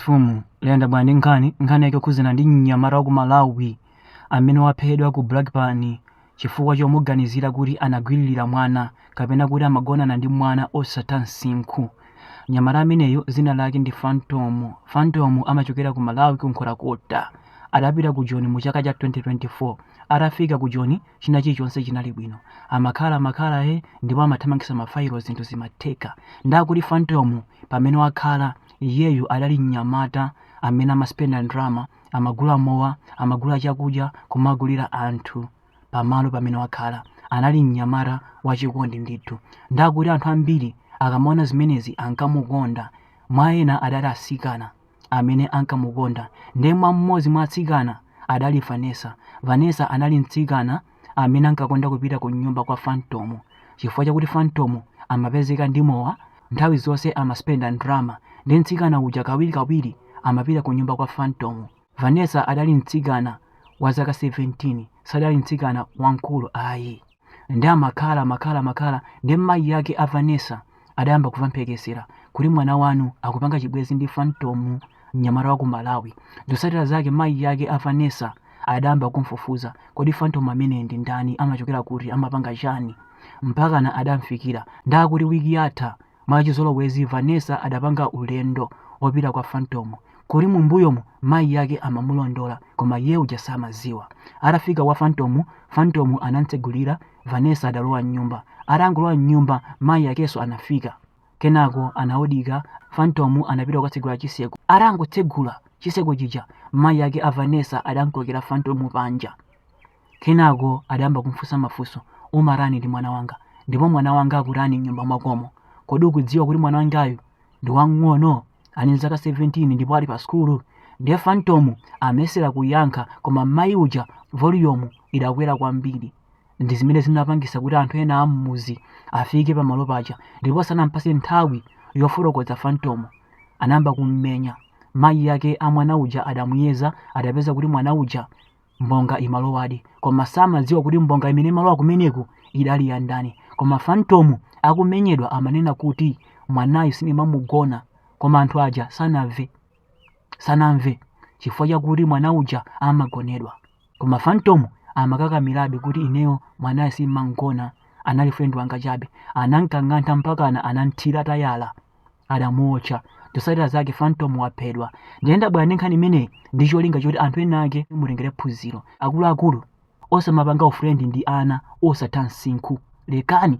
Mfumu yayenda bwino ndi nkhani nkhani yake yokhuzana ndi mnyamata wa ku Malawi amene waphedwera ku Brakpan chifukwa chomuganizira kuti anagwiririra mwana kapena kuti amagonana ndi mwana osatha msinkhu. Mnyamata ameneyu dzina lake ndi Phantom. Phantom amachokera ku Malawi ku Nkhotakota. Adapita ku Joni mu chaka cha 2024. Atafika ku Joni china chilichonse chinali bwino. Amakhalamakhala, eh, ndipo amathamangitsa mafailo zinthu zimatheka. Ndakuti Phantom pamene wakhala Iyeyu adali mnyamata amene amaspenda ndalama, amagula mowa, amagula chakudya kumagulira anthu pamalo pamene wakhala. Anali mnyamata wachikondi ndithu. Ndakuti anthu ambiri akamaona zimenezi ankamukonda. Mwa ena adali atsikana amene ankamukonda. Ndiye mwa mmodzi mwa atsikana adali Vanessa. Vanessa anali mtsikana amene ankakonda kupita ku nyumba kwa fantomu chifukwa chakuti fantomu amapezeka ndi mowa nthawi zonse amaspenda ndrama ndi mtsikana uja kawirikawiri amapita ku nyumba kwa fantomu vanessa adali mtsikana wa zaka 17 sadali mtsikana wamkulu ayi ndiye amakhala makhala makhala ndi mayi ake a vanessa adayamba kuva mphekesera kuti mwana wanu akupanga chibwezi ndi fantomu mnyamata wa ku malawi zosatira zake mayi yake a vanessa adayamba kumfufuza kodi fantomu ameneyu ndi ndani amachokera kuti amapanga chani mpakana adamfikira ndakuti wiki yatha mwachizolowezi vanessa adapanga ulendo opita kwa fantomu koma mumbuyomu mayi yake amamulondola koma iye uja samaziwa atafika kwa fantomu fantomu anamtsegulira Vanessa adalowa m'nyumba. Atangolowa m'nyumba, mayi akenso anafika. Kenako anaodira, Phantom anapita kukatsegula chitseko. Atangotsegula chitseko chija, mayi ake a Vanessa adamkokera Phantom panja. Kenako adayamba kumfunsa mafunso, Umatani ndi mwana wanga? Ndipo mwana wanga akutani m'nyumba mwakomo? Kodi ukudziwa kuti mwana wangayu ndi wamng'ono? Ali ndi zaka 17 ndipo ali pa sukulu? Ndiye Phantom amayesera kuyankha koma mayi uja volume idakwera kwambiri. ndi zimene zinapangisa kuti anthu ena ammuzi afike pamalo paja ndipo asanampase nthawi yofotokoza fantomu anayamba kummenya mayi yake a mwana uja adamuyeza adapeza kuti mwana uja mbonga imalowadi koma samadziwa kuti mbonga imene imalowa kumeneku idali ya ndani koma fantomu akumenyedwa amanena kuti mwanayu sinimamugona koma anthu aja sanamve sanamve chifukwa chakuti mwana uja amagonedwa Koma Phantom amakakamirabe kuti ineyo mwanayu simmamgona, anali friend wanga chabe. Anamkang'antha mpakana anamthira tayala, adamuotcha. Zotsatira zake Phantom waphedwa. Ndiye ndabwera ndi nkhani imeneyi ndi cholinga choti anthu ena ake mutengere phunziro. Akuluakulu, osamapanga ufriend ndi ana osatha msinkhu. Lekani!